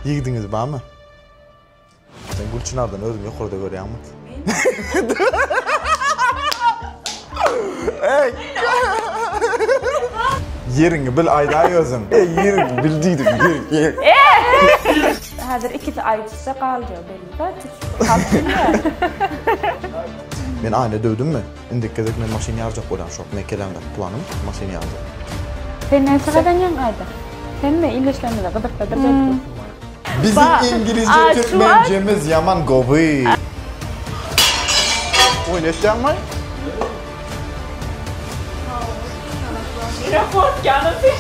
Ýigdiňiz barmy? Sen Gülçinardan özüňi ýokarda görýäňmi? Ey! Ýeriňi bil aýdaý özüň. Ey, ýeriňi bil diýdim. Ýer, Häzir ikisi aýdyşsa galja belli. Halk bilýär. Men Aýna döwdümmi? Indiki gezek men maşyn ýarjak bolýan şok mekeleňde planym maşyn ýarjak. Sen näçe gazanýaň aýda? Hemme il işlerimize gyzyklydyr belki. Biziň iňgilizje türkmençemiz ýaman gowy. Oýun etýäňmi? Nirä fotkaňy sen?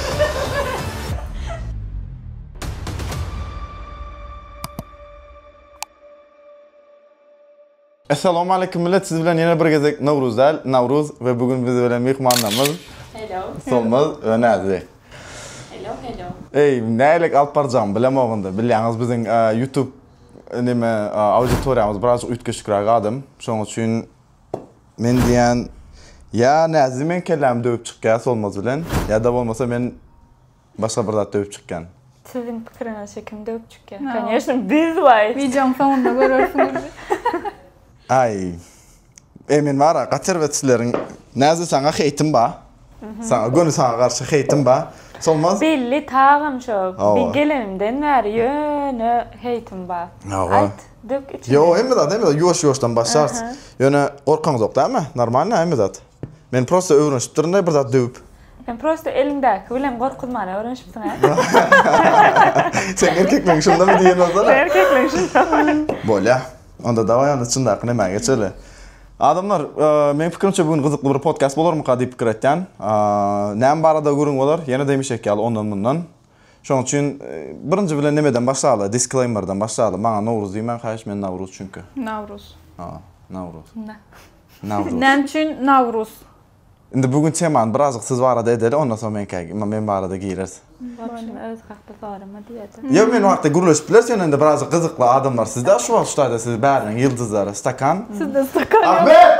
Essalawmaleýkim millet siz bilen ýene bir gezek Nowruz däl Nawruz we bu gün biz bilen myhmannamyz Hello. Solmaz we Näzli. Hello hello. Eý nälik alyp barjagymy bilemogynda bilýäňiz biziň ýutub neme auditoriýamyz birazjyk üýtgeşikräk adam şoň üçin men diýýän ýa Näzli meň kellämi döwüp çykýa Solmaz bilen ýa-da bolmasa men Başga bir zat döwüp çykýan. Siziň pikiriňizçe kim döwüp çykýan? Koneşno biz waýt. Wideoň soňunda görersiňiz. Aý. Eý men bara gaterwet sizleriň näze saňa heýtim ba. Saňa göni saňa garşy heýtim ba. Solmaz. Belli tagam şo. Bi gelenimden bäri ýöne heýtim ba. Aýt dök içiňi. Ýo hemme zat hemme zat ýuwaş ýuwaşdan başlarys. Ýöne gorkaňyzok dämi? Normalny hemme zat. Men prosta öwrenişipdirin-dä bir zat döwüp. Sen prosta eliňdäki bilen gorkuzmana öwrenişipsiň-ä. Seň erkekligiň şundamy diýen bolsana. Seň erkekligiň şundamy. Bolýa. Onda dawaý onda çyndaky nämä geçeli. Adamlar, meň pikirimçe bu gün gyzykly bir podkast bolarmyka diýip pikir etýän. Näme barada gürrüň bolar? Ýene-de hemişeki ýaly ondan-mundan. Şonuň üçin birinji bilen nemeden başlaly, disclaimerden başlaly. Maňa Nowruz diýmäň haýyş, men Nawruz çünki. Nawruz. Ha, Nawruz. Nawruz. Näme üçin Nawruz? Indi bu gün temany birazjyk siz barada edeli, ondan soň menkä, men barada gireris. Bolşumy öz hakda sorama diýerdi. Ýa men wagtda gürleşip bileris, ýöne indi birazjyk gyzykly adamlar sizde, şu wagt şu taýda siz bäriniň ýyldyzlary, stakan. Sizde stakan ýok. Ahmet!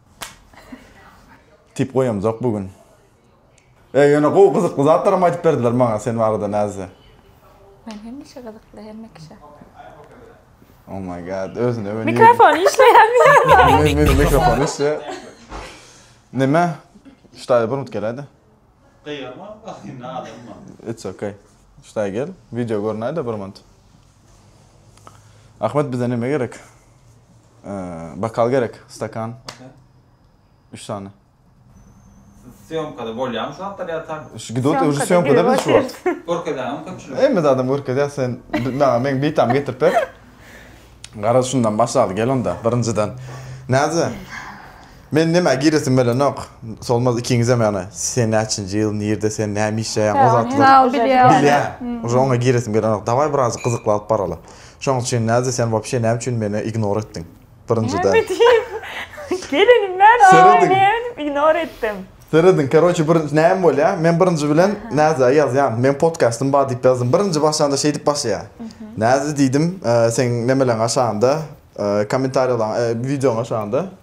Tip goýamzok bu gün. E ýöne gowy gyzykly zatlaram aýdyp berdiler maňa sen barada Näzde. Men hemişe gyzykly hemme kişä. Oh my god özüne we nirede. Mikrofon işleýärmi? Meniň mikrofon işleýär. Neme? Ştaýa bir minut geläýdä. Gyýgarma, ynha adamym bar. It's okay. Ştaýa gel. Wideo görünäýdä bir minut. Ahmet bize neme gerek? Bakal gerek, stakan. Üç sany. Syýomkada bolýamy şu wagtlar ýa tak? Gidot öňki syýomkada biz şu wagt. Görkezäňmi köpçülige? Hemme zadam görkezýär sen. Maňa meň bitamy getirip ber. Garaz şundan başlaly gel onda birinjiden. Näze? Men nämä giresim gelenok Solmaz ikiňizem ýagny sen näçinji ýyl nirde sen näme işleýäň o zatlar bilýän uje oňa giresim gelenok dawaý birazjyk gyzykly alyp baraly şoň üçin näze sen wapşe näme üçin meni ignor etdiň birinjiden näme diýip gelin men oý näme diýip ignor etdim serediň karoçe bir näme bolýa men birinji bilen näzä ýazýan meň podkastym bar diýip ýazdym birinji başlanda şeýdip başlaýa näze diýdim seň nemeleň aşagynda komentarýalaň wideoň aşagynda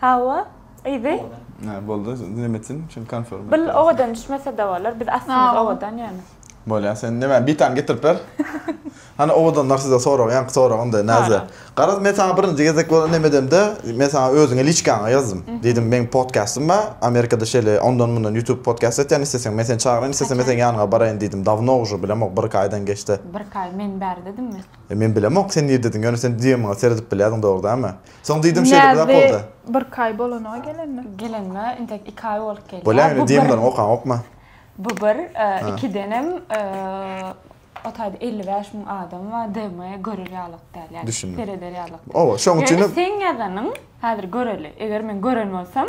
Hawa, yzy. Hä, boldy, nirem etsin, şindi konform. Bil owadan düşmese-de bolar, biz aslymyz owadan ýöne. Bolýa, sen näme, bitaň getirip ber. Hany owadanlar size sorag, ýaňky soragynda, Näze. Garaz, men saňa birinji gezek bolan näme edemde, men saňa özüňe liçkaňa ýazdym. Diýdim, meň podkastym bar, Amerikada şeýle ondan-mundan ýutub podkast etýän, isleseň men seni çagyryn, islesemem seň ýanyňa baraýyn diýdim, dawno ujy, bilemok, bir-iki aýdan geçdi. Bir-iki aý men bäri dedimmi? E men bilemok sen nirdedyň ýöne sen DMiňe seredip bilýädiň dogry dämi? Soň diýdim şeýle uzak Näzli boldy. birki aý bolanyga gelenine. Gelenime intek iki aý bolup gelýär. Bolýa ýöne DMleriňi okaňokmy? Bu bir, ikidenem o taýda elli bäş müň adam bar DMe görer ýalyk däl ýa sereder ýalyk däl. Oba şoň üçinem. Ýöne seň ýazanyň häzir göreli eger men gören bolsam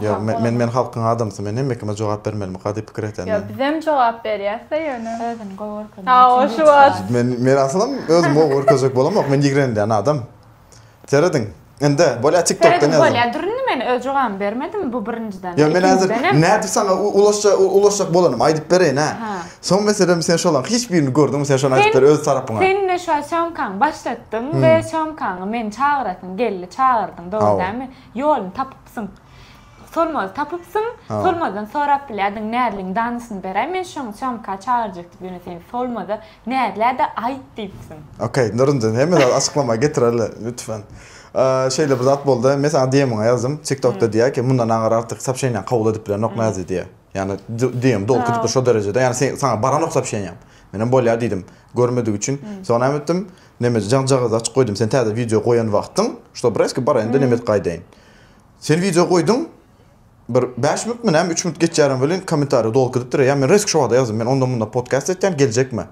Ýa, men, men halkyň adamsy, men hemme kime jogap bermelimika diýip pikir etýän. Ýa, bizem jogap berýäs-dä ýöne. Özüni gowy görkezmek üçin. Hawa, şu wagt. Men, men aslam özümi gowy görkezjek bolamok, men ýigrenilýän adam. Serediň, indi, bolýa TikTokdan ýazyň. Serediň, bolýa, durun men öz jogabymy bermedim, bu birinjiden. Ýa, men häzir nädip saňa ulaşja, ulaşjak bolanym, aýdyp bereýin-ä. Hä. Soň meselem sen şolaryň hiç birini gördüňmi, sen şony aýdyp ber öz tarapyňa. Sen indi şu sýomkaňy başlatdyň we sýomkaňa meni çagyrasyň geldi, çagyrdyň, dogry dälmi? Ýoluny tapyp. Syň. Solmaz tapypsyň. Solmazdan sorap bilýärdiň, Näzliň danysyny beräý, men şoň sýomka çagyrjak diýip, ýöne sen Solmaza Näzlä-de aýt diýipsiň. Okey, Nurunjan, hemme zady açyklama getireli, lütfen. Şeýle bir zat boldy, men saňa DM-iňe ýazdym, TikTok-da diýýär ki, mundan aňry artyk sopşeniýaňy kabul edip bilenok Näzli diýýär. Ýagny DM doly köpdür şo derejede, ýagny saňa baranok sopşeniýam. Menem bolýar diýdim, görmedigi üçin. Soň näme etdim, Nemes jan jagazy açyp goýdym sen täze wideo goýan wagtyň şuda bir eski baraýynda nemes gaýdaýyn. Sen wideo goýduň bir bäş minut my näme üç minut geçýärem welin kommentariýa doly gidipdir ýa men resk şo wagda ýazdym men onda munda podcast etýän geljekme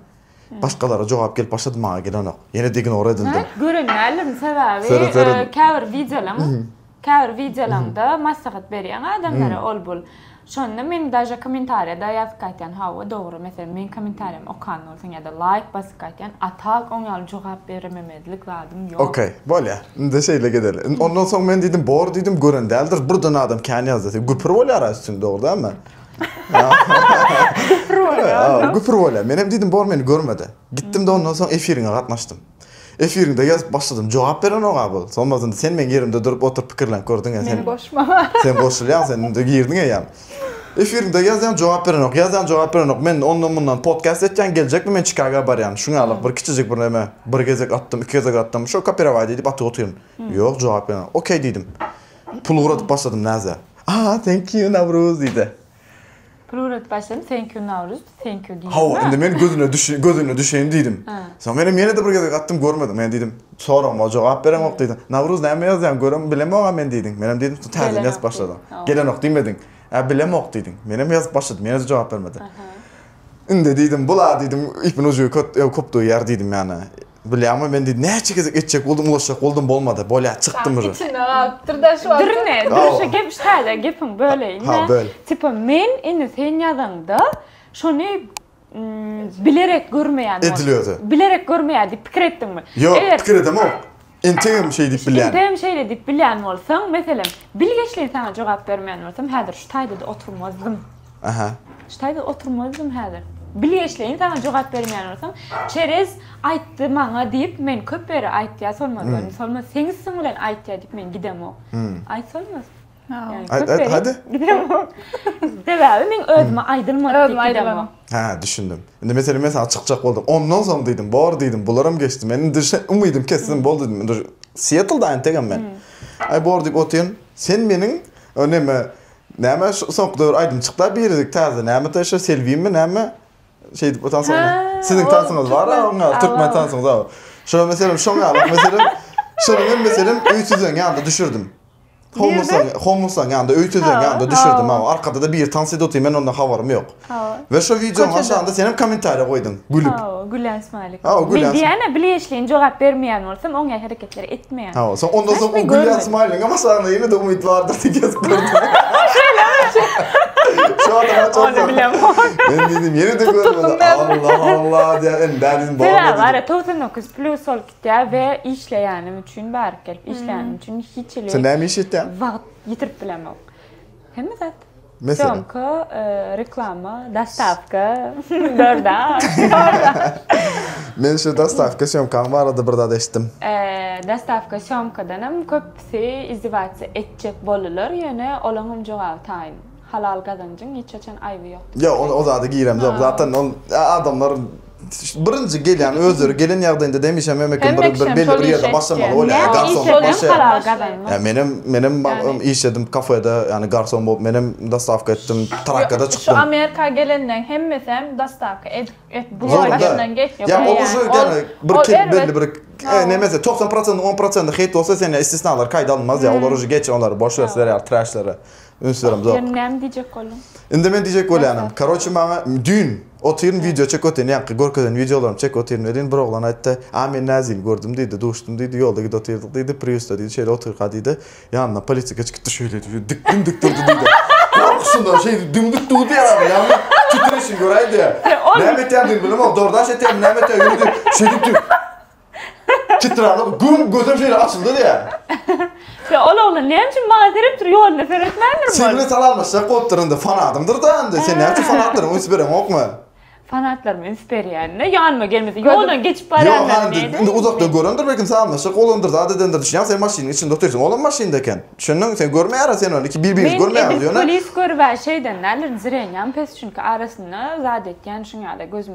başgalara jogap gelip başlady maňa gelenok ýenede ignor edildim. Gören däldim sebäbi käbir wideolaň Käbir wideolaňda maslahat berýäň adamlara ol bul. Şonda men daže kommentariýada ýazyp gaýtýan hawa dogry meselem meň kommentariýamy okan bolsaň ýada laýk basyp gaýtýan atal oň ýaly jogap berememezlik zadym ýok. Ok bolýa indi şeýle gedeli indi ondan soň men diýdim bor diýdim gören däldir birden adam kän ýazdy güpür bolýar a üstüni dogry dälmi. Güpür bolýa. Güpür bolýa menem diýdim bor meni görmedi gitdimde ondan soň efiriňe gatnaşdym. Efiriňde ýazyp başladym. Jogap berenok-a bu. Solmasynda sen meň ýerimde durup oturyp pikirlenip gördüň-ä. Meni goşma. Sen goşulýaň, sen indi girdiň eýýäm. Efiriňde ýazýaň, jogap berenok, ýazýaň, jogap berenok. Men ondan-mundan podkast etýän, geljekmi men Çikaga barýan. Şuň ýaly bir kiçijik bir näme. Bir gezek atdym, iki gezek atdym. Şo kopirowaý diýdip atyp otyryn. Ýok, jogap berenok. Okey diýdim. Pul ugradyp başladym näze. Aa, thank you, Nawruz diýdi. Plural başyn thank you Nowruz, thank you diýýärmi? Hawa, indi men gözüne düşeýin, gözüne düşeýin diýdim. Soň menem ýene-de bir gezek atdym, görmedim. Men diýdim, soragyma jogap bereňok diýdim. Nowruz näme ýazýaň, görem, bilemok-a men diýdim. Menem diýdim, şu täzeden ýazyp başladyň. Gelenok diýmediň. Ä, bilemok diýdim. Menem ýazyp başladym, ýene-de jogap bermedi. Indi diýdim, bul-a diýdim, ipin ujy köp döýýär diýdim ýa-da. Bilýäňmi, men diýdi, näçe gezek etjek boldum, ulaşjak boldum, bolmady. Bolýar, çykdym uje. Içinde galypdyr-da şu wagtam. Durme, durşa gep, şaýla gepiňi böleýin-de. Ha, böl. Tipa, men indi sen ýazaňda, şony bilerek görmeýän boldum. Edil özi. Bilerek görmeýär diýip pikir etdiňmi? Ýok, pikir edemok. Entegem şeý diýip bilýän. Entegem şeýle diýip bilýän bolsaň, meselem, bilgeşleýin saňa jogap bermeýän bolsam, häzir şu taýda-da oturmazdym. Aha. Ştaýda oturmazdym häzir. Bilgeşleýin saňa jogap bermeýän bolsam, Çerez aýtdy maňa diýip men köp ýere aýtýa Solmaz gelin, Solmaz seň üstüň bilen aýtýa diýip men gidemok. Aýt Solmaz. Aýt aýt hadi. Gidemok. Sebäbi meň özüme aýdylmady diýip gidemok. Özüme aýdylany. Hä düşündim. Indi meselem men saňa çykjak boldum. Ondan soň diýdim, bor diýdim, bularam geçdi. Men indi şe umydym kesdim boldy diýdim. Indi Sietlda entegem men. Aý bor diýip otyryn. Sen meniň o neme Näme şu soňky döwür aýdym çykda biridik täze näme de şu Selbinmi näme şeýdip bu tans oýna. Siziň tansyňyz bar a oňa türkmen tansyňyz a. Şo meselem şoň a bak meselem şonuň hem meselem öý tüzeň ýanda düşürdim. Homusaň homusaň ýanda öý tüzeň ýanda düşürdim a arkada da biri tans edip otyr men ondan habarym ýok. Hawa. We şo wideonyň aşagynda senem kommentariýa goýduň, gülüp. Hawa, gülýän smaýlik. Hawa, gülýän. Men diýýän-ä, bileýşleýin jogap bermeýän bolsam, oňaýy hereketleri etmeýän. Hawa, soň ondan soň o gülýän smaýligiňem aşagynda ýene-de umyt bardyr diýip ýazyp gördüm. Şo adam aç bolsa. Ony bilemok. Men diýdim, ýene-de görmedi. Allah, Allah diýýän, indi däl diýdim, bormy diýdim. Sebäbi, togsan dokuz plus bolup gitýär we işleýänim üçin bärik gelip işleýänim üçin hiç hili. Sen näme iş etýäň? Wagt ýitirip bilemok. Hemme zat. Meselem. Sýomka, reklama, dostawka, DoorDash, DoorDash. Men şu dostawka sýomkaň barada bir zat eşitdim. Dostawka sýomkadanam köpüsi izdiwaçja etjek bolylar, ýöne olaňam jogaby taýyn. Halal gazanjyň hiç haçan aýby ýok. Ýok, o zada giremzok. Zatdan ol adamlar Birinji gelýän özleri gelen ýagdaýynda demişem hemme kim bir bir belli bir ýerde başlamaly bolýar. Näme iş edseň hem halal gazanmak. Ýa menem menem işledim kafede ýani garson bolup menem dostawka etdim trakkada çykdym. Şu Amerika gelenleň hemmesem dostawka edip edip bular başyndan geçýär. Ýa o ujy ýani bir kil belli bir nemesi togsan prosentiň on prosenti hate bolsa sen ýa istisnalar kaýda alynmaz ýa olar ujy geç olary boş wer sizler ýaly traşlere. Ünslerim zok. Ýöne näme diýjek bolduň? Indi men diýjek bolýanym. Karoçi maňa düýn otyryn wideo çekip otyryn ýaňky görkezen wideolarymy çekip otyryn welin bir oglan aýtdy a men näzini gördüm diýdi duşdum diýdi ýolda gidip otyrdyk diýdi priusda diýdi şeýle otyrka diýdi ýanyndan polisiýa geçip gitdi şeýle diýdi dikdin dik durdy diýdi gorkuşyndan şeýdip dümdük durdy ýaly ýaňky titreşini göräýdi näme etýändigini bilemok dordaş etýärmi näme etýär ýöne diýip şeýdip diýip Çytralap güm gözüm şeýle açyldy diýýär. Ýa ol oglan näme üçin maňa seredip dur, ýoluna seretmändir ol. Sen bilen salamlaşjak bolupdyr indi, fanadymdyr-da indi. Sen näme üçin fanatlaryňa üns bereňokmy? Fanatlaryma üns berýän-de, ýanyma gelmese, ýoldan geçip barýanlaryny nädýän indi? Ýok, indi uzakdan görendir, belki salamlaşjak bolandyr, zat edendir düşünýäňmi? Sen maşynyň içinde otyrsyň, olam maşynda eken. Düşündiňmi? Sen görmeýärä sen ony, iki bir-biriňizi görmeýäňiz ýöne. Men edil polis görüb-ä şeýden däldirin, zirenýän pes, çünki arasynda zat etýän şuň ýaly gözüm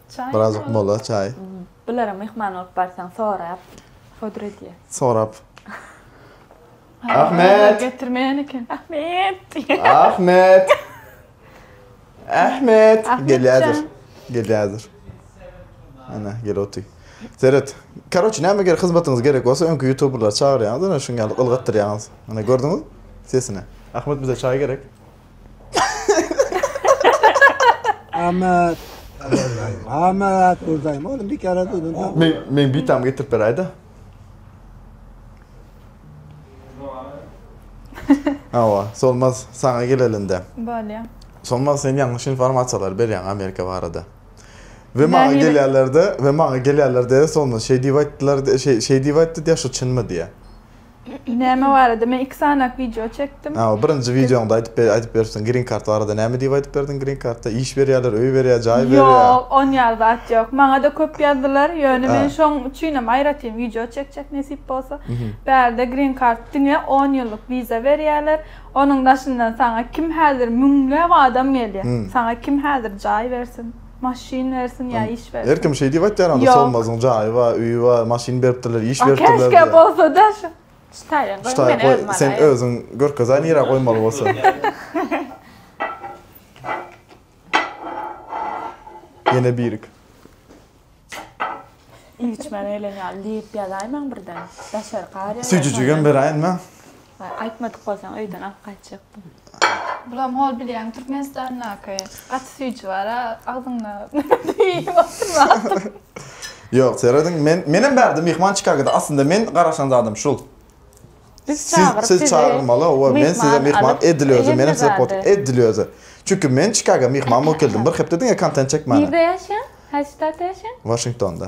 Çaý Birazajyk mola çaý. Bulara myhman bolup barsaň sorap fodur edýär. Sorap. Ahmet. Getirmeýän eken. Ahmet. Ahmet. Ahmet. Gelýärdir. Gelýärdir. Ana gel otur. Seret. Karoç näme gerek hyzmatyňyz gerek bolsa öňki youtuberleri çagyrýaňyz ana şuň ýaly ylgatdyrýaňyz. Ana gördüňiz? Sesine. Ahmet bize çaý gerek. Ahmet. Ahmet buradayım oğlum bir kere duydun da. Men, men bir tam getirip beray da. Ava, solmaz sana gelelinde. Böyle. Solmaz sen yanlış informasiyalar berýän Amerika barada. Ve maňa gelýärlerde, ve maňa gelýärlerde solmaz şey diýip aýtdylar, şey şey diýip aýtdy diýä şu çynmy diýä. Näme barada? Men iki sanyk wideo çekdim. Hä, o birinji wideoňda aýdyp ber, aýdyp beripsiň, green card barada. Näme diýip aýdyp berdiň green cardda? Iş berýärler, öý berýär, jaý berýär. Ýok, on ýaly zat ýok. Maňa-da köp ýazdylar, ýöne men şoň üçinem aýratyn wideo çekjek nesip bolsa. Bärde green card diňe on ýyllyk wiza berýärler. Onuň daşyndan saňa kim häzir müňläp adam gelýär. Saňa kim häzir jaý bersin? Maşyn bersin ýa iş bersin. Her kim şeý diýip aýtýar onda Solmazyň jaýy bar, öýi bar, maşyn beripdirler, iş beripdirler. Käşgä bolsada şu. Ştaýyn goý men özüm alaýyn. Sen özüň görkezaý nirä goýmaly bolsa. Ýene birik. Iýiçmä geleni ýaly diýip ýazaýmaň birden. Daşary gar ýaly. Süýjüjigem beräýinmi? Aýtmadyk bolsaň öýden alyp gaýtjakdym. Bulam hol bilýän Türkmenistandaky gaty süýji bara agzyňda iýip oturma. Ýok serediň men menem bärde myhman çykargada aslynda men garaşan zadym şul. Biz çagyryp sizi çagyrmaly owa men size myhman edil özüm menem size pot edil özi. Çünki men çykarga myhman bolup geldim bir hepde diňe kontent çekmäne. Nirde ýaşaýaň? Haýsy ştatda ýaşaýaň? Waşingtonda.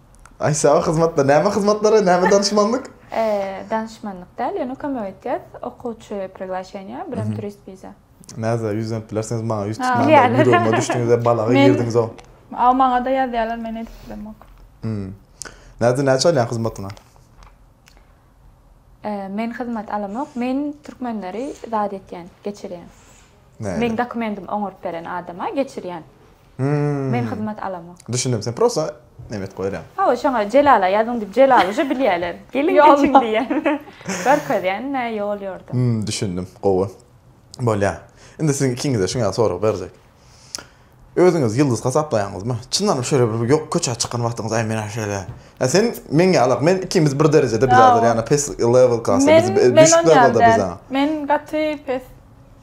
Aýsaba hyzmatlar, näme hyzmatlary, näme danyşmanlyk? Danyşmanlyk däl, ýöne kömek edýäs, okuwçy priglaşeniýa, birem turist wiza. Näze ýüz dönüp bilersiňiz maňa, ýüz tutman-da ýüregime düşdüňiz-ä, balaga girdiňiz-ow. Aw, maňa-da ýazýarlar, men edip bilemok. Näze näçe alýaň hyzmatyňa? Men hyzmat alamok, men türkmenleri zat etýän, geçirýän. Meň dokumendim oňaryp beren adama geçirýän. Men hyzmat alamok. Düşündim sen prosta nebet goýarýaň. Hawa şoňa Jelala ýazyň diýip Jelal uje bilýäler. Geliň geçiň diýýän. Görkezýän nä ýol ýordam. Hum düşündim gowy. Bolýa. Indi siziň ikiňize şuňa sorag berjek. Özüňizi ýyldyz hasaplaýaňyzmy? Çyndanam şeýle bir ýok köçä çykan wagtyňyz aý menä şeýle. Ýa sen meň ýalak men ikimiz bir derejede bizalar ýana pes level klasda biz düşük lewelde biza. Men gaty pes.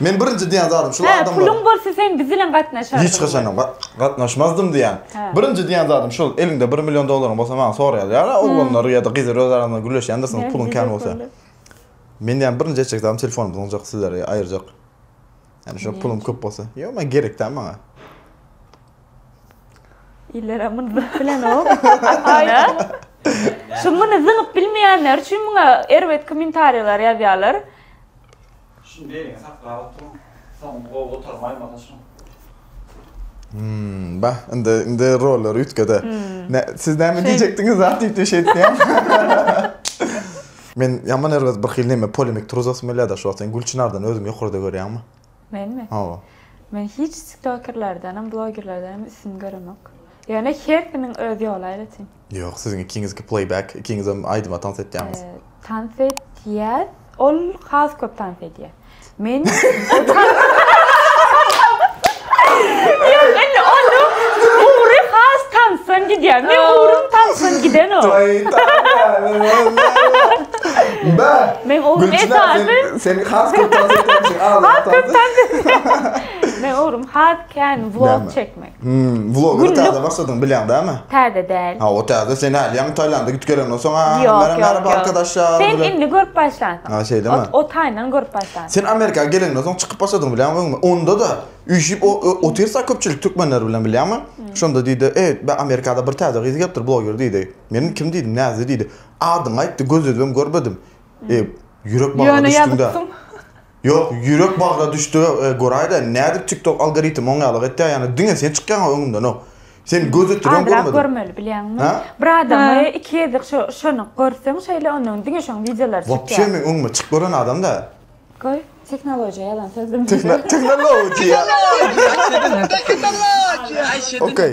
Men birinji diýen zadym şul adamlar. Hä puluň bolsa sen biz bilen gatnaşardyňmy. Hiç haçanam gatnaşmazdym diýen. Birinji diýen zadym şul eliňde bir million dollaryň bolsa maňa sora ýazýarlar oglanlar ýa-da gyzlar öz araňda gürleşýändirsiňiz puluň kän bolsa. Men diýen birinji etjek zadym telefonum zyňjak sizlere aýyrjak. Ýani şo pulum köp bolsa. Ýok men gerek däl maňa. Illerem muny zyňyp bilenok. Aýda. Şu muny zyňyp bilmeýänler üçin muňa erbet kommentariýalar ýazýarlar. Şuny beliňe saklap oturyň. Soňuny gowy gutarmaýmasa şoň. Hmmm bah indi indi rollary üýtgede. Nä siz näme diýjekdiňiz zat diýip diýip şeýdip diýýän. Men ýaman erbet bir hili näme polemik turuzasym gelýärda şu wagt sen Gülçynardan özüňi ýokarda görýäňmi? Menmi? Hawa. Men hiç tiktokerlerdenem blogerlerdenem üstün göremok. Ýöne her kimiň öz ýoly aýratyn. Ýok, siziň ikiňizki pleýbek, ikiňizem aýdyma tans etýäňiz. Tans etýäs. Ol has köp tans edýär. Men tansdan gidýär. Men ugrum tansdan gidenok. Men ugrum esasy. Sen has köp tans etýän. Men ugrum has kän vlog çekmek. Hmm, vloga täze başladyň bilýäň dämi? Täze däl. Ha, o täze sen älýäň Taýlanda gitip gelenok soň ha. Ýok, ýok, arkadaşlar. Sen indi görüp başlansyň. Ha, şeýdemi? Ot, o taýyndan görüp başlansyň. Sen Amerika gelenden soň çykyp başladyň bilýäň öňme. Onda da üýşip otyrsa köpçülik türkmenler bilen bilýäňmi? Hmm. Şonda diýdi, "Eý, be Amerikada bir täze gyz gelipdir bloger" diýdi. Men kim diýdim, näze diýdi. Adyňy aýtdy, göz özüm görmedim. Hmm. E, ýürek bagyna düşdüňde. Ýok ýürek bagra düşdüge goraýda nädip tiktok algoritm oň ýaly etýä ýany diňe sen çykýaňa öňümdenok sen göz ötürýäň görmedim. Azrak görmeli bilýäňmi bir adamy iki gezek şo şonyňk görseň şeýle ondan diňe şoň wideolary çykýa. Wapşe meň öňüme çyk gören adam da. Goý tehnologiýa ýalan söz bilmese. Tehnologiýa. Tehnologiýa. Tehnologiýa. Okey.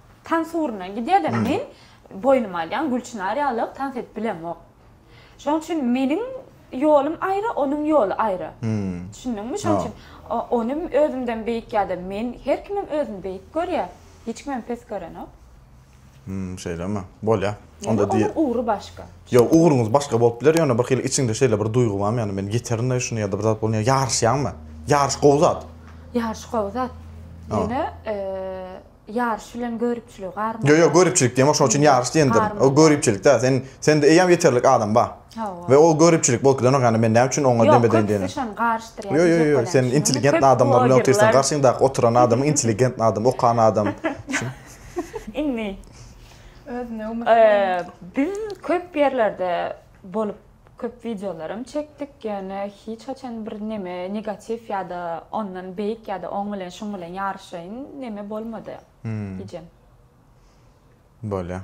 Tans ugrundan gidýärler. Men boýnuma alýan Gülçynar ýalyk tans edip bilemok. Şonuň üçin meniň ýolum aýry, onuň ýoly aýry. Düşündiňmi? Şonuň üçin ony özümden beýik ýa-da men, her kimem özüni beýik görýär. Hiç kimem pes görenok. Hum, şeýlemi? Bolýar. Onda diý. Onuň ugry başga. Ýok, ugruňyz başga bolup biler, ýöne bir hili içiňde şeýle bir duýgy barmy, ýagny men ýeterin-de şuny ýa-da bir zat bolýar, ýaryşýaňmy? Ýaryş gowy zat. Ýaryş gowy zat. Ýöne Ýaryş bilen göripçiligi garmaly. Ýo ýo göripçilik diýemok şoň üçin ýaryş diýendirin. O göripçilik däl sen sende eýýäm ýeterlik adam bar. Hawa. We o göripçilik bolup gidenok ýagny men näme üçin oňa dem bedeýin diýen. Ýok köpüsi şony garyşdyrýar. Ýo ýo ýo sen intelligentny adamlar bilen otyrsaň garşyňdaky oturan adamyň intelligentny adam okan adam. Indi biz köp ýerlerde bolup köp wideolaram çekdik ýöne hiç haçan bir neme negatiw ýada ondan beýik ýada oň bilen şuň bilen ýaryşaýyn neme bolmady hijem. Bolýa.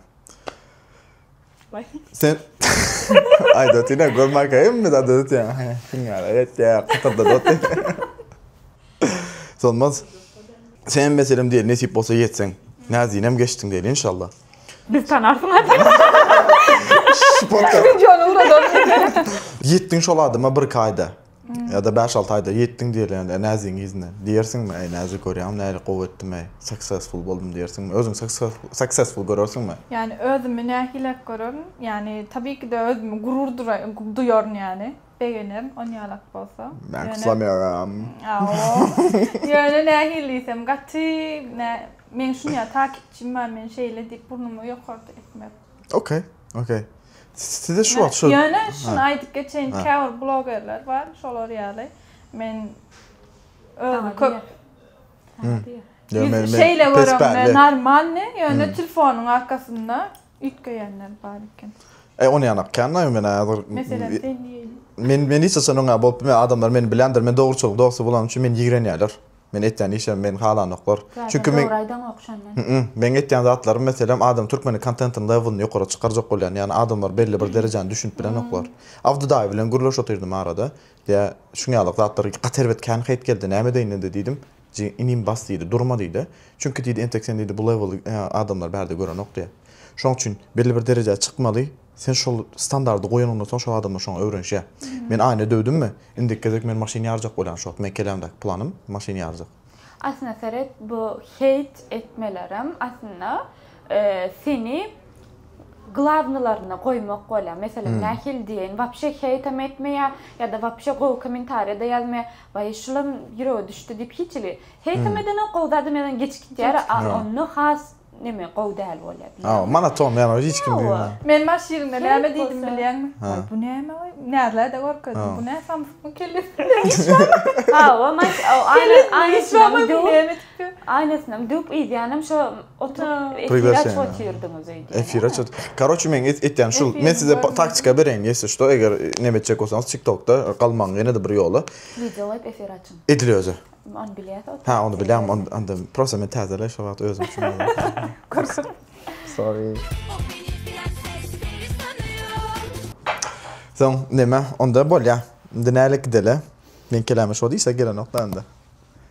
Sen aýda tine görmakaýmy zat ötýäň. Şuň ýaly etýä. Solmaz. Senem meselem diýeli nesip bolsa ýetseň. Näzinem geçdiň diýeli inşallah. Biz tanarsyň Ýetdiň şol adama birki aýda. Ýa-da bäş alty aýda ýetdiň diýeli ýa-da näzigiň yzyna. Diýersiňmi, Äý näzik görýäňmi nähili gowy etdim äý. Successful boldum diýersiňmi? Özüňi successful görersiňmi? Ýani özümi nähili-räk görerin? Ýani tabii ki-de özümi gurur duýaryn ýani. Begenerin on ýalak bolsa. Men kyslamýaram. Ýöne nähili diýsem gaty nä meň şunýa takipçim bar men şeýle diýip burnumy ýokarda etmek. Okey, okey. Size şu wagt şu. Ýöne şuny aýdyp geçeýin käbir blogerler bar şolar ýaly men özi köp Şeýle göremde normalny ýöne telefonyň arkasynda Üýtgeýänler bar eken. E ony ýanak kännaý men häzir. Meselem sen diýeli. Men men hiç haçan oňa bolup bilmän adamlar meni biländir men dogruçylyk dosty bolanym üçin meni ýigrenýärler. Men etýän işim meni halanoklar. Çünki men. Dogry aýdaňok şonda. Hmmm meň etýän zatlarym meselem adam türkmeniň kontentiniň lewelini ýokara çykarjak bolýan ýani adamlar belli bir derejäni düşünip bilenoklar. Abdy daýy bilen gürleş otyrdym arada. Ýa şuňňalak zatlar gaty erbet kän heýt geldi näme edeýin indi diýdim. Jigim, inim bas diýdi, durma diýdi. Çünki diýdi, entek sen diýdi, bu lewelli adamlary bärde görenok diýdi. Şonuň üçin belli bir derejä çykmaly, sen şol standardy goýanyňdan soň şol adamlar şoňa öwrenişýär. Men aýna döwdümmi, indiki gezek men maşyn ýarjak bolýan şo wagt, meň kelämdäki planym maşyn ýarjak. Aslynda seret, bu heýt etmelerem aslynda Seni glawnylaryna goýmak bolýar. Meselem, nähili diýeýin, wapşe heýtem etmeýär ýa-da wapşe gowy kommentariýa-da ýazmaýar. Waý, şulam ýürege düşdi diýip hiç hili. Heýtem edenok, gowy zadam ýazan geçip gitýär, a onda has neme, gowy däl bolýar, bilýärmi? Hawa, monoton, ýagny hiç kim diýen ýaly. Men baş ýerinden näme diýdim bilýäňmi? Waý, bu näme waý? Näzlä-de görkezdim. Bu nä samsykmy, kellesinde iş barmy? Hawa, maş, o aýna, aýna içinden döwüp, Aýnasynyam düwüp yzýanam şo oturyp efir açyp otyrdyňyz öýdýän. Efir açyp. Karoçe meň etýänim şul. Men size taktika bereýin ýesi şto eger neme etjek bolsaňyz tiktokda galmaň ýenede bir ýola. Wideo goýup efir açyň. Edil özi. Ony bilýäs oturyp. Hä ony bilýän onda prosta men täzeleý şo wagt özüm üçin bolýa. Gorkup. Sorry. Soň neme onda bolýa. Indi nälik gidele. Meň keläme şo diýse gelenok da indi.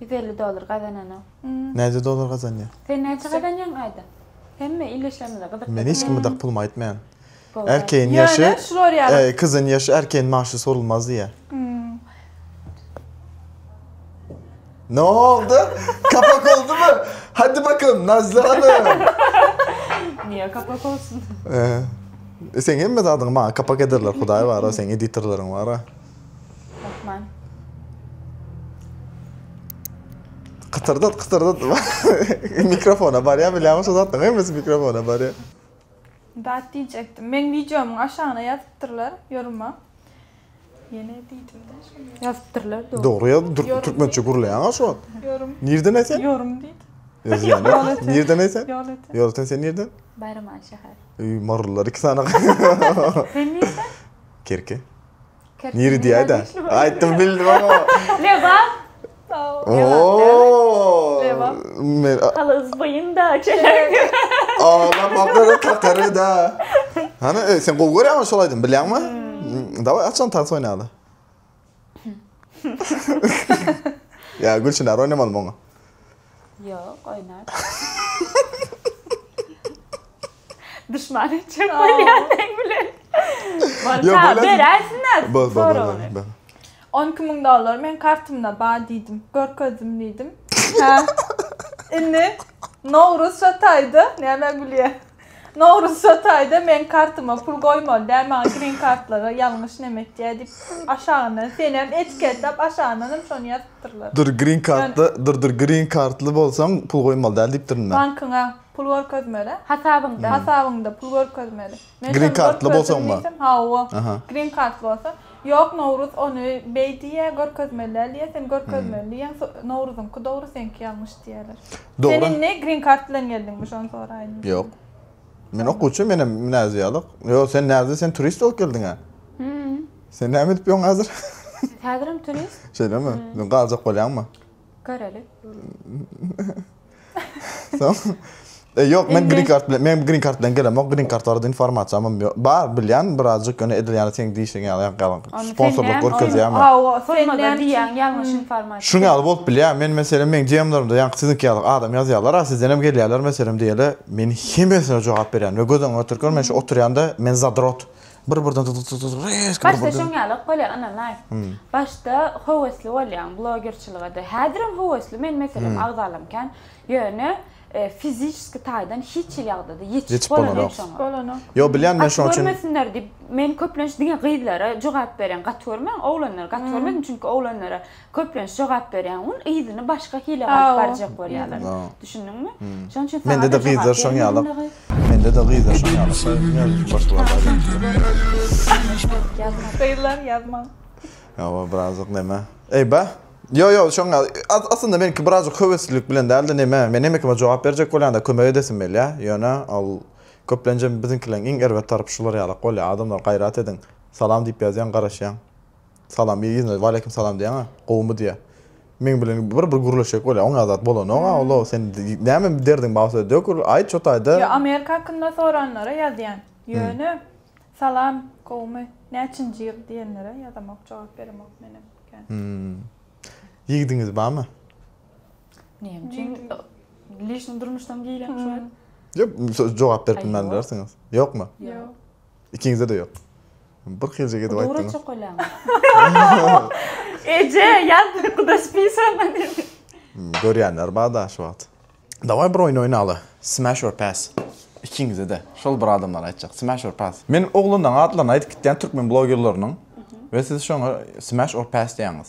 Ýüz elli dollar gazananok. Näce dollar gazanýa? Sen näçe gazanýaň aýda? Hemme ildeşlerimize gyzykly. Men hiç kime dak pulumy aýtmaýan. Erkegiň ýaşy, kyzyň ýaşy erkegiň magşy sorulmaz diýýä. Noldy? Kapak oldumy? Hadi bakalym Nazly hanym. Niýe kapak olsun? Seň hemme zadyňy maňa kapak ederler hudaý bara seň editorlaryň bara. Rahman. Kytyrdat kytyrdat. mikrofona barýa bilämi şu zatda hemmesi mikrofona barýa. Dat diýjekdim. Meň wideomyň aşagyna ýazypdyrlar ýoruma. Ýene diýdimde şonda. Ýazypdyrlar dogry. Dogry ýazyp türkmençe gürleýäňa şu wagt. Ýorum. Nirden esen? Ýorum diýdi. Nirden esen? Ýolöten. Ýolöten sen nirden? Baýramaly şäher. Öý marylylar iki sany. Sen nirden? Kerki. Niri diýäýdä. Aýtdym bildim ama. Lebap. Oo. Lebap. Men Halys boýunda çelik. Ala makara kakary da. Hany e, sen gowy görýäňmi şol aýdym bilýäňmi? Hmm. Daway açan tans oýnaýaly. Ya Gülçin ar oynamaly mı onu? Ýok, oýnar. Duşman etjek bolýar sen bilen. Bolsa, beräýsin-ä soragyny. On iki müň dollar meň kartymda bar diýdim. Görkezdim diýdim. Hä? Indi Nowruz şa taýda nämä gülýär? Nowruz Jotaýda meň kartyma pul goýmaly däl maňa green kartlara ýalňyş näme etýä diýip aşagyndan senem etiketlap aşagyndan hem şony ýazypdyrlar. Dur green kartly dur dur green kartly bolsaň pul goýmaly däl diýipdir indi. Bankyňa pul görkezmeli. Hasabyňda. Hasabyňda pul görkezmeli. Men şony görkezdim diýsem hawa. Green kartly bolsaň. Ýok Nowruz ony beý diýýä görkezmeli däl diýýä sen görkezmeli diýýäň Nowruzyňky dogry seňki ýalňyş diýýäler. Sen indi green kart bilen geldiňmi şony soraýyn. Ýok. Men okuwçy menem näzi ýalyk. Ýok sen näzi sen turist bolup geldiňä. Sen näme edip ýöň häzir? Häzirem turist. Şeýlemi? Galjak bolýaňmy? Göreli. Soň E ýok, men green card bilen, men green card bilen gelemok. Green card barada informasiýam ýok. Bar, bilýän, birazjyk ýöne edil ýaly seň diýişiň ýaly ýaly sponsorlyk görkezýärmi? Hawa, sözmada diýýän ýalňyş informasiýa. Şuň ýaly bolup bilýär. Men meselem meň DM-lerimde ýaňky siziňki ýaly adam ýazýarlar, a sizdenem gelýärler meselem diýeli. Men hemmesine jogap berýän we göz öňüňe oturkar, men şu oturýanda, men zadrot. Bir birden dy dy dy dy rezki bir Başda şoň ýalak bolýa ynanaý. Başda höwesli bolýaň blogerçiligede. Häzirem höwesli men meselem agzalam kän. Ýöne fiziçeski taýdan hiç hili ýagdada ýetişip bolanok. Ýetişip bolanok. Ýok bilýän men şoň üçin. Gaty görmesinler diýip men köplenç diňe gyzlara jogap berýän gaty görmäň oglanlary gaty görmesin çünki oglanlara Köplenç jogap berýän gün yzyny başga hile galyp barjak bolýarlar. Düşündiňmi? Şonuň üçin saňa da jogap bermeýärler. Mende de gyzlar şoň ýaly. Gyzlar ýazmaň. Ýa-ba birazjyk neme? Eýba. Ýo ýo şoň ýaly. Aslynda meniňki birazjyk höweslilik bilen dälde neme? Men hemme kime jogap berjek bolýanda kömek edesim gelýä. Ýöne ol köplenjem biziňkileriň iň erbet tarapy şular ýalak bolýa. Adamlar gaýrat ediň. Salam diýip ýazýaň garaşýaň. Salam ýa ýene waleýkim salam diýýäňä gowumy diýýä. Meň bilen bir bir gürleşjek bolýa oňa zat bolanoga olo sen näme derdiň bawsa dök aýt şo taýda. Ýa Amerika hakynda soranlara ýazýan ýöne salam gowumy näçinji ýyl diýenlere ýazamok jogap beremok menem kän. Ýigidiňiz barmy? Näme üçin lişni durmuşdan giýilýän şuwagt? Ýok jogap berip bilmän bilersiňiz. Ýokmy? Ýok. Ikiňizde-de ýok. Bir kylja edip aýtdyňyz. Dogry çok öýläňiz. Eje, ýat kudaş pisama dedi. Görýänler bar-da şu wagt. Daway bir oýun oýnaly. Smash or pass. Ikiňizde-de. Şol bir adamlar aýtjak. Smash or pass. Men oglanlaryň atlaryny aýdyp gitýän türkmen blogerleriniň we siz şoňa smash or pass diýýäňiz.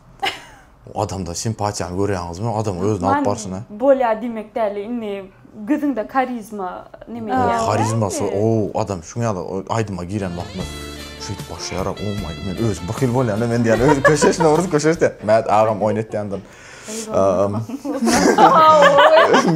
Adamda simpatiýany görýäňizmi? Adam özüni alyp barşyny. Many bolýar diýmek däl-le, indi gözüňde karizma neme diýýäňiz? Oň karizmasy, o adam şuň ýaly aýdyma giren wagtymyz şeýdip başlaýar-a, o maý, men özüm bir hil bolýan-a men diýýän, özi köşeşdi, orus köşeşdi diýýän. Mät agam oýun etýändir.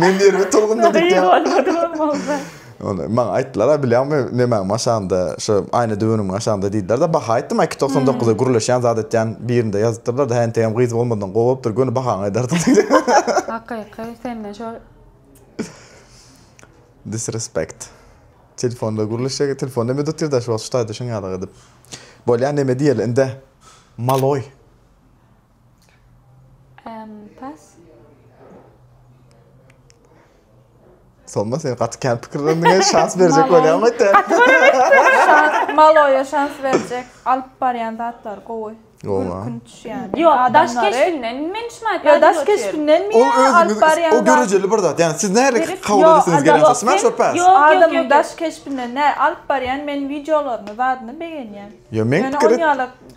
Men ýerime tolgundym diýip. Gyz bolmady bolmasa. Onda maňa aýtdylar-a, bilýäňmi, nemäň aşagynda, şu aýna düweniň aşagynda diýdiler-de, baha aýtdym-a, iki togsan dokuza gürleşýän zat edýän birinde ýazypdyrlar-da, häntegem gyz bolmadygyň gowy bolupdyr, göni bahaňy aýdardym diýdim. Hakyky, senden şol. Disrespekt. Telefonda gürleşjek, telefon näme edip otyr-da şu wagt şu taýda şuňňalak edip. Bolýa, näme diýeli indi, maloý. Sonna sen gaty kän pikirlendiň, şans berjek bolýan gaty. Gaty görüp Maloýa şans berjek. Alyp barýan zatlar gowy. Gülkün düşýän. Ýok, daş keşbinden men şuny aýtýan. Ýa daş keşbinden mi? Ol özüňiz o görejeli bir zat. Ýani siz nähili kabul edesiňiz gelen zat. Smash or pass? Adamyň daş keşbinden nähili alyp barýan men wideolaryny, zadyny begenýän. Ýa men pikir et.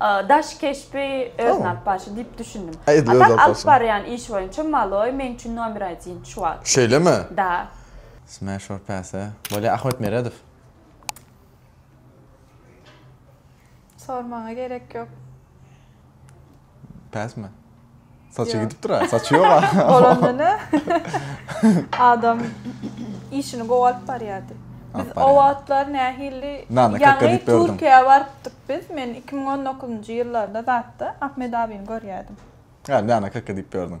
Daş keşbi öz nap başy diyip düşündim. A tak alyp baryan iş boyunça maloy men üçin nomer adin şu wagt. Şeyleme? Da. Smash or pass a. Bolya Ahmet Meredow. Sormaňa gerek yok. Pass mi? Saçy gidipdir a, saçy ýok a. Bolanda ne? Adam işini gowy alyp barýardy. Biz o wagtlar nähili ýaňy Türkiýä barypdyk biz. Men 2019-njy ýyllarda zatda Ahmet abyny görýärdim. Hä, näme kaka diýip ýördüň?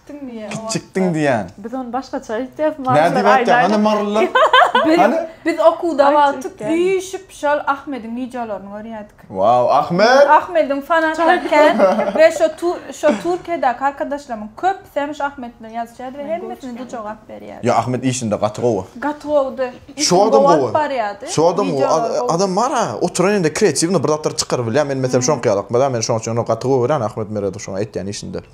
Gitdiň diýýä o wagtda. Gitjikdiň diýýän. Biz ony başgaça aýtýas, marylar aýdaýda. Nädip aýtýaň, hany marylar? Hany? Biz okuwda wagtyk üýşüp şol Ahmediň wideolaryny görýädik. Waw, Ahmet! Ahmediň fanaty kän we şo şo Türkiýedäki arkadaşlarymyň köpüsi hem şo Ahmet bilen ýazyşýardy we hemmesine de jogap berýärdi. Ýa Ahmet işinde gaty gowy. Gaty gowudy. Şo adam gowy. Şo adam gowy. Adam bar-a, oturan ýerinde kreatiwnyý bir zatlar çykaryp bilýär. Men meselem şoňky ýaly, men şoň üçin ony gaty gowy görýän Ahmet Meredow şoňa etýän işinde.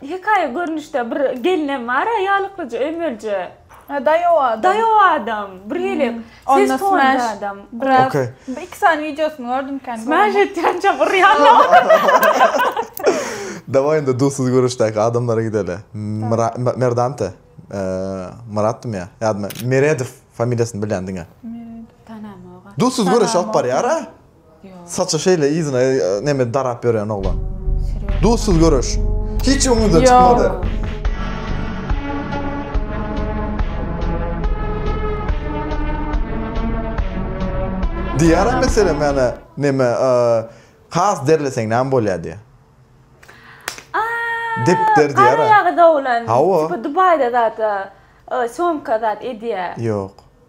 Hekaýa görnüşde bir gelinem bar a ýalyklyja ömelje. He daýaw adam. Daýaw adam. Bir hili ses tony adam. Biraz iki sany wideosyny gördüm kän. Smash etýän çap urýan ýaly. Dawaý indi dussuz görüşdäki adamlara gideli. Merdante. Myratdymy ýa? Ýadym. Meredow familiýasyny bilýän diňe. Meredow. Tanamok a. Dussuz görüşip barýar a. Saça şeýle yzyna neme darap ýören oglan. Duzsuz göreş. Hiç öňüňizden çykmady. Diyara mesela mana neme e, has derleseň näme bolýar diýär. Depder diyara. Ýagy dowlan. Hawa. Tipa Dubaýda zat e, somka zat edýär. Ýok.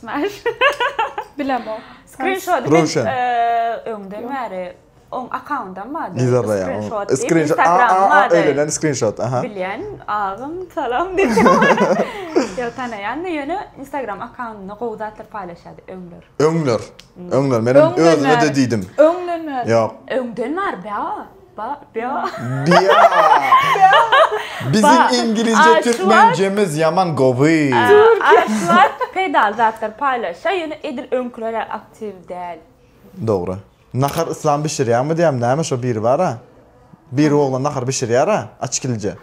Smash. Bilemok. Screenshot Röwşen. öňden bäri oň akkauntdan bardy. Nizada ya. Screenshot. diýip, Screenshot. Aa, Instagram aa, aa, bardy. öylenen screenshot. Aha. Bilýän agam salam diýip. Ýok tanaýan da ýöne Instagram akkauntynda gowy zatlar paýlaşýardy öňler. Öňler. Öňler. Menem Öňden özüme de bäri. diýdim. Öňden bäri. Ýok. Öňden bäri bä. Ba, bia. Bia. Biziň iňgilizje türkmenjemiz ýaman gowy. Aşlar peýdaly zatlar paýlaşýar, ýöne edil öňkülerä aktiw däl. Dogry. Nahar yslam bişirýäňmi diýýämi näme şo biri bara. Biri oglan nahar bişirýara açkilje.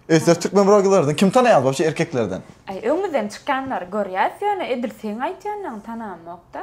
Öýtseňiz türkmen brogerlerden kim tanaýaňyz wobşe erkeklerden? Aý öňümizden çykýanlary görýäs ýöne edil seň aýtýanlaň tanamokda.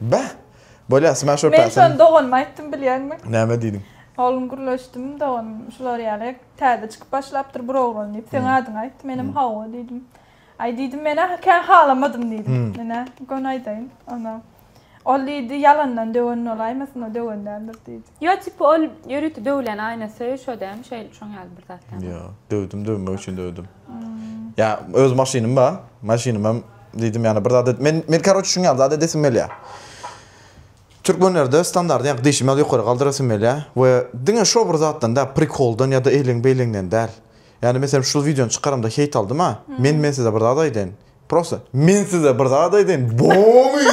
Beh! Bolýa, sma şo päsini. Men şony doganyma aýtdym bilýäňmi? Näme diýdiň? Oglum gürleşdim, doganym şular ýaly täze çykyp başlapdyr bir oglan diýip, seň adyňy aýtdy, menem hawa diýdim. Aý diýdim, men-ä kän halamadym diýdim. Menä göni aýdaýyn, onä ol diýdi, ýalandan döwen bolaýmasyn, o döwen däldir diýdi. Ýok, tipi ol ýörite döwülen aýnasy şo dämi, şeýle şoň ýaly bir zat dämi? Ýok, döwdüm, döwmek üçin döwdüm. Ýa öz maşynym bar. Maşynym hem diýdim ýa bir zat men men karoç şuny ýaly zat edesim gelýä. Türkmenlerde standart ýa dişimi ýa ýokary galdyrasym gelýä we diňe şo bir zatdan da prikoldan ýa da eýleň beýleňden däl. Ýani meselem şu wideony çykaramda heýt aldym a. Men men size bir zat aýdaýyn. Prosta men size bir zat aýdaýyn bomy.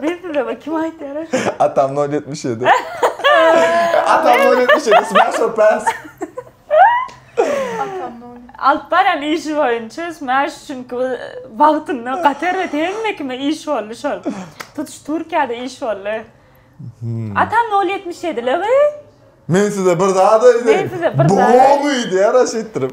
Men size bir kim aýtýar aş. Atam nol ýetmiş ýedi. Atam nol ýetmiş ýedi smash or pass. Atam nol. Alyp baran işi boýunça smash çünki bu wagtynda gatar we hemme kime iş boldy şol. Tutuş Türkiýede iş boldy. Atam nol ýetmiş ýedi ligi. Men size bir zat aýdaýyn. Men size bir zat. Bomy diýýär aş etdirip.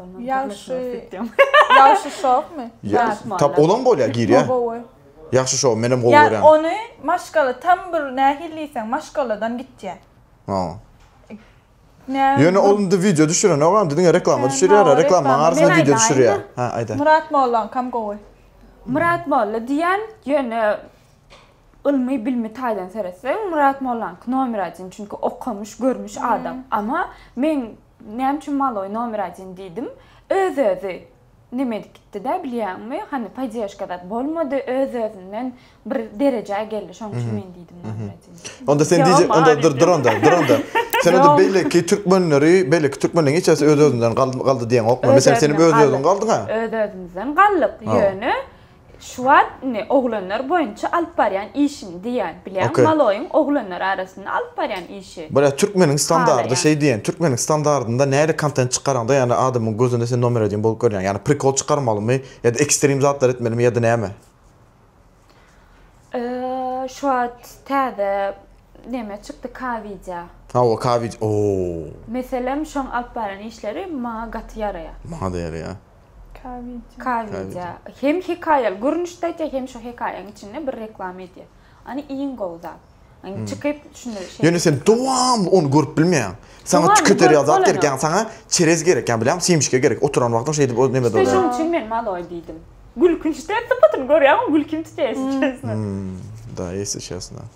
Ýagşy. Ýagşy şowmy? Tap olam bolýa girýa. Ýagşy şow menem gowy görýän. Ýa ony maşgala tam bir nähili diýseň maşgaladan gitýä. Ha. Ýöne ol indi wideo düşürenok indi diňe reklama düşürýär reklamaň arasynda wideo düşürýär. Ha aýda. Myrat mollaňkam gowy. Myrat molla diýen ýöne. Ylmy bilmi taýdan seretseň Myrat mollanyky nomer adin çünki okamyş görmüş adam ama men näme üçin maloý nomer adin diýdim öz özi neme edip gitdidä bilýäňmi hany paýdeşka zat bolmady öz özünden bir derejä geldi şoň üçin men diýdim nomer adin diýdim. Onda sen DJ onda dur dur onda dur onda sen onda beýleki türkmenleri beýleki türkmenleriň hiç hasi öz özünden galdy diýeňokmy meselem seniň öz özüň galdyňa öz özümizden galdyk ýöne Şu wagt indi oglanlar boýunça alyp barýan işiň diýýän bilýäň maloýyň oglanlar arasynda alyp barýan işi. Bile türkmeniň standardy şeý diýen türkmeniň standardynda näre kontent çykaraňda ýani adamyň gözünde sen nomer edin bolup görýäň ýani prikol çykarmalymy ýada ekstrim zatlar etmelimi ýada näme. Şu wagt täze neme çykdy ka widýa. Hawa ka widýa oo. Meselem şoň alyp barýan işleri maňa gaty ýaraýa. Maňada ýaraýa. K-wideo. Hem hekaýaly görnüşde aýdýar, hem şu hekaýaň içinde bir reklama edýär. Ony iň gowy zat. Ony çykyp şuny şeýle. Ýöne sen dowamly ony görüp bilmeýäň. Saňa tüketer ýaly zat gerek, ýagny saňa çerez gerek, ýa bilýäňmi, simşika gerek. Oturan wagtyň şeýdip o neme bolýar. Şonuň üçin men maloý diýdim. Gülkünçde sypatyny görýäňmi, gülkim tutýar ýesli çesna. Hum, da, ýesli çesna.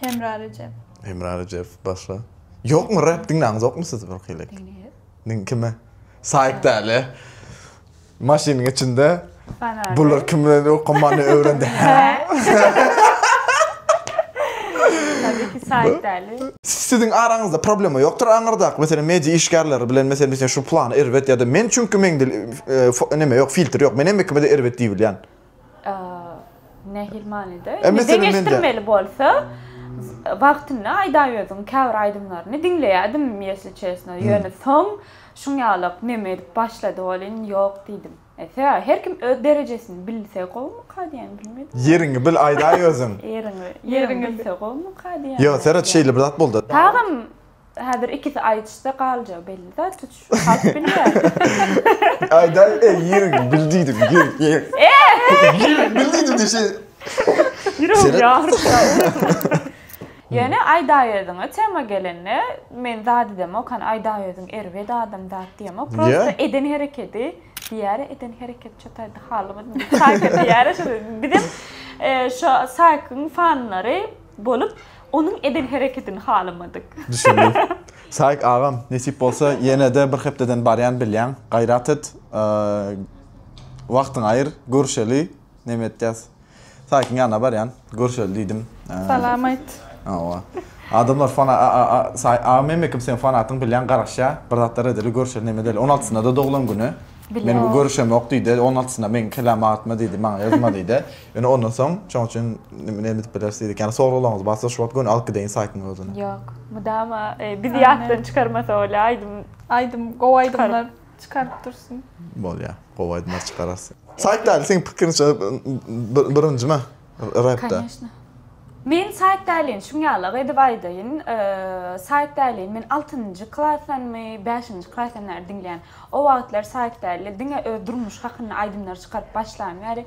Hemra Rejep. Hemra Rejep başla. Ýokmy rap diňläňizokmy siz bir kylek? Diňleýäs. kime? Saýk däli. Maşynyň içinde. Bana. Bular kimden okamany öwrendi? Tabii ki Saýk däli. Siziň araňyzda problema ýokdur aňyrdaky meselem media işgärleri bilen meselem meselem şu plany erbet ýa-da men çünki meňde neme ýok filtr ýok men hemmekime-de erbet diýibilýän. Nähili manyda? Indi deňeşdirmeli bolsa, wagtynda Aýdaýöziň käbir aýdymlaryny diňleýärdim, ýesli çesno. Ýöne soň şuňýalak neme edip başlady welin, ýok diýdim. Ese, her kim öz derejesini bilse gowumyka diýen, bilmedim. Ýeriňi bil Aýdaýöziň. Ýeriňi, ýeriňi bilse gowumyka diýen. Ýok, seret şeýle bir zat boldy. Tagam Häzir ikisi aýdyşsa galjagi belli zat tutuş halk bilýär. Aýdaý eý ýirik bil diýdim ýirik ýirik. Ýirik bil diýdim diýşi. Ýüregim ýaryp ýa. Ýöne aýdaýerdiňä tema gelende men zat edemok hany aýdaýerdiň erbet adam zat diýemok prosta eden herekedi diýäre eden hereket çataýda halymy diýip saýka diýäre şo bizem şo saýkyň fanlary Bolup, onuň eden hereketini halamadyk. Düşündim. Saýk agam, nesip bolsa, ýene-de bir hepdeden barýan bilýäň. Gaýrat et, wagtyňy aýyr, görüşeli. Näme etýäs? Saýkyň ýanyna barýan, görüşeli diýdim. Salam aýt. Hawa. Adamlar fana Saýk agam hem ekim seniň fanatyň bilýän garaşýa. Bir zatlar edeli, görüşeli näme edeli. On altysynda-da doglan güni. Bilýän. Meniň görüşemok diýdi. On altysynda meniň kellämi agyrtma diýdi, maňa ýazma diýdi. Ýöne ondan soň şoň üçin näme edip bileris diýdik. Ýani soraglaryňyz barsa şu wagt göni alyp gideýin saýtyň özüne. Ýok. Mydama bizi ýatdan çykarmasa bolýa aýdym. Aýdym gowy aýdymlar çykaryp dursun. Bolýa. Gowy aýdymlar çykararys. Saýtda seň pikiriňçe birinjimi repde? Koneşna. Men saýtdalin şuň ýalak edip aýdaýyn. Saýtdalin men altynjy klasdanmy, bäşinji klasdan bäri diňleýän. O wagtlar saýtdali diňe öz durmuş hakynda aýdymlar çykaryp başlan bäri.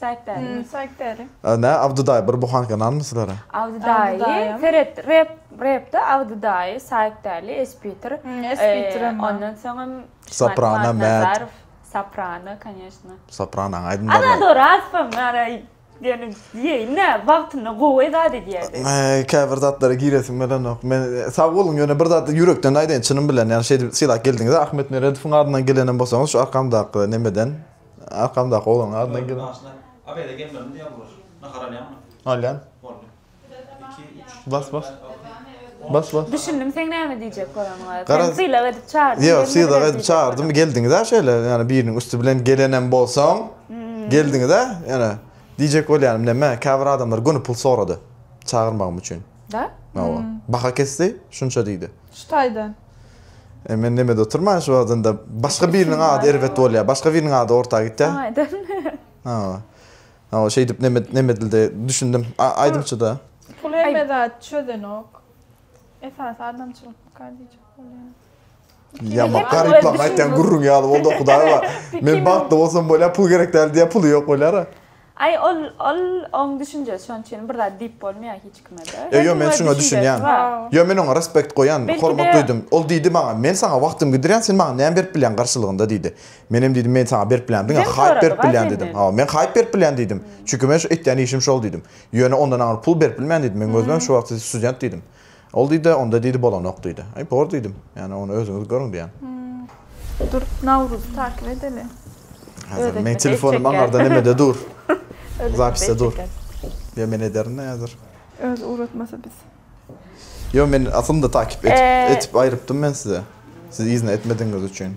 Saýyp bäri. Hum saýyp bäri. Nä Abdy daýy bir buhanka nanmy sizlere. Abdy daýy seret rep repde Abdy daýy saýyp bäli espiter ondan soňam soprano mät soprano konýeşno soprano aýdym bar ana dogry aspam ara ýöne diýeýin nä wagtynda gowy zat edýärdi käbir zatlara giresim gelenok men sag boluň ýöne bir zat ýürekden aýdaýyn çynym bilen ýa şeýdip sylap geldiňiz ahmet meredowyň adyndan gelenem bolsaňyz şu arkamdaky nemeden Arkamdaky oglan adyna gel. Abede gelmeli diye bular. Nahar alyan mı? Alyan. Boldu. 2 3 Bas bas. Bas bas. Düşündim sen näme diýjek göreniňe. Sen sylag edip çagyrdyň. Ýok, sylag edip çagyrdymy geldiňiz-ä şeýle, ýani biriniň üsti bilen gelenem bolsaň, hmm. geldiňiz-ä, ýani diýjek bolýanym näme, käbir adamlar göni pul sorady çagyrmagym üçin. Da? Hawa. Hmm. Baha kesdi, şunça diýdi. Şu taýdan. E men nemede oturman şu wagtynda başga biriniň ady erbet bolýar. Başga biriniň ady orta gitýär. Saňa aýdym. Ha. Ha şeýdip neme neme dilde düşündim. Aýdymçyda. Pul hemme zat çözenok. Esasy adamçylyk bakar diýjek bolýan. Ya bak garip lan aytyan gurrun ya oldu hudaýa. Men bagtly bolsam bolýar, pul gerek däl diýär, puly ýok bolýar. Aý ol ol oň düşünjesi şoň üçin bir zat diýip bolmaýar hiç kimede. Ýo ýo men şuňa düşünýän. Ýo men oňa respekt goýan, hormat duýdum. Ol diýdi maňa, men saňa wagtym gidirýän sen maňa näme berip bilýäň garşylygynda diýdi. Menem diýdim men saňa berip bilýän diňe haýp berip bilýän diýdim. Hawa men haýp berip bilýän diýdim. Çünki men şu etýän işim şol diýdim. Ýöne ondan aňry pul berip bilmen diýdim. Meň özümem şu wagty student diýdim. Ol diýdi, onda diýdi bolanok diýdi. Aý bor diýdim. Ýani ony özüňiz görüň diýýän. Dur Nawruzy takyp edeli. Häzir meň telefonym aňarda nemede dur. Zapisde dur. Ýa men ederin-de häzir. Özi ugratmasa biz. Ýo men aslynda takyp etip aýrypdym men size. Siz yzyna etmedigiňiz üçin.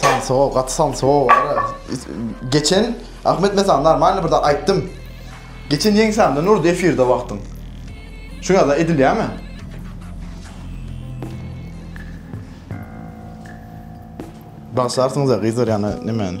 Sansow, gaty sansow bar. Geçen Ahmet mesela normalny bir zat aýtdym. Geçen ýeňsämden urdy efirde wagtyň. Şu ýada edilýärmi? Bagşarsyňyz ya gyzlar yani ne men?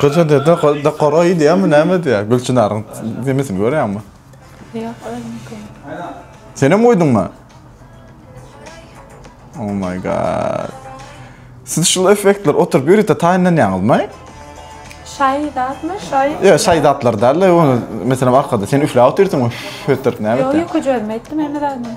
Goja dede dokara gidýärmi, näme edýär? Gülçynaryň demesini görýäňmi? Ýok, özüniňki. Senem goýduňmy? Oh my god. Siz şul effektler oturyp ýörite taýynlanýaňyzmy? Şaý zatmy? Şaý. Ýa şaý zatlar däl-de, ony meselem arkada sen üfläp otyrsyňmy? Hötdürip näme etýär? Ýok, ýok, özüm etdim hemme zadyny.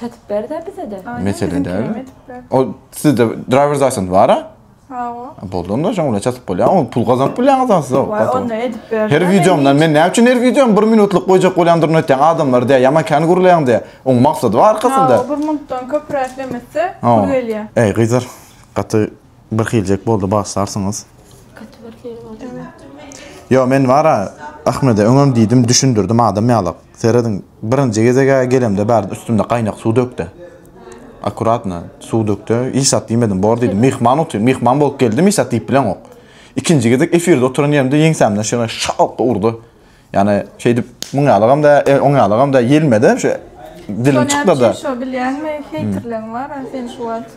Çatyp berde bizede. Mesele däl. O sizde driver's license bara? Hawa. Boldy onda şoň bilen çatyp bolýar. Ol pul gazanyp bilýäňiz ha siz. Wah onda edip ber. Her wideomdan men näme üçin her wideom 1 minutlyk goýjak bolýandyryny aýtýaň adamlar diýýär. Ýaman kän gürleýäň diýýär. Oň maksady bar arkasynda. Hawa 1 minutdan köpräk demese pul gelýär. Eý gyzlar gaty Bir hiljek boldy bagsarsyňyz. Kötü bir hil boldy. Yo men bara Ahmede öňem diýdim düşündirdim adam ýalak. Serediň birinji gezegä gelemde bärde üstümde gaýnak suw dökde. Akuratna suw dökde hiç zat diýmedim bor diýdim myhman otyr myhman bolup geldim hiç zat diýip bileňok. Ikinji gezek efirde oturan ýerimde ýeňsämden şeýle şalp urdy. Ýani şeýdip muň ýalygam dä e oň ýalygam dä ýelmede şu dilim çykdada. Şo bilýäňmi heýterleň bara sen şu wagt.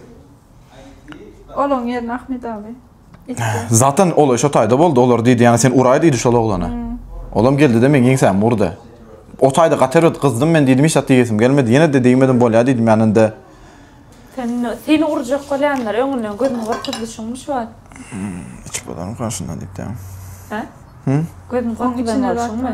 Olaň ýerine Ahmet abi. Etdi. Zatan ol şo taýda boldy, olar diýdi ýa sen uraý diýdi şol oglana. Olam geldide meň ýeňsämi urdy. O taýda gaty erbet gyzdym men diýdim hiç zat diýesim gelmedi. Ýenede degmedim bolýa diýdim ýa ninde. Sen seni urjak bolýanlar öňünden gözüňi gorkuzdy şuňmy şu wagt. Içip bolarmy garşyndan diýip dämi. Hä? Hü? Gözüňi gorkuzan bol şuňmy.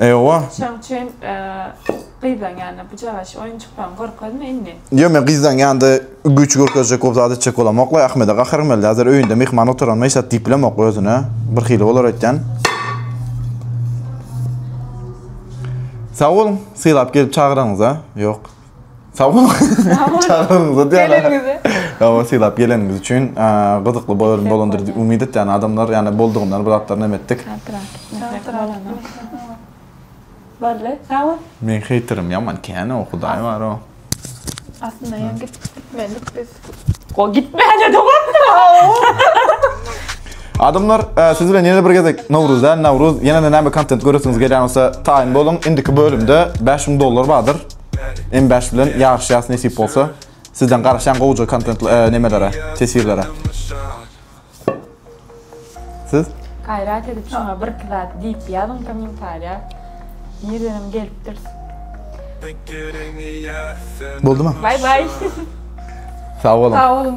Ewa. Çem çem gyzlaň ýanyna bujagaç oýunjyklaň görkezme indi. Ýok men gyzlaň ýanynda güýç görkezjek bolup zat etjek bolamok we Ahmede gaharym geldi hazir öýünde myhman oturanyma hiç zat diýip bilemok özüne bir hili bolar öýtýän. Sag boluň sylap gelip çagyranyňyza. Ýok. Sag boluň. Sag boluň. Çagyranyňyza diýen. Geleniňize. Ýa sylap geleniňiz üçin gyzykly bolar bolandyr diýip umyt etýän adamlar ýa boldugyndan bir zatlar näme etdik. Boldy. Sag bol. Meň heýterim ýaman kän o hudaý bar o. Aslynda ýa gitmelidik biz. O gitmäne dogapdyr. Adamlar, e, siz bilen ýene bir gezek Nowruz däl, Nawruz, ýene-de näme kontent göresiňiz gelýän bolsa, taýyn boluň. Indiki bölümde bäş müň dollar bardyr. M bäş bilen ýaryşýas nesip bolsa. Sizden garaşýan gowja kontentli e, nemelere, teswirlere. Siz Gaýrat edip şuňa birki zat diýip ýazyň kommentariýa. Nirdenem gelipdir. Boldumy? Bye bye. Sag boluň. Sag boluň.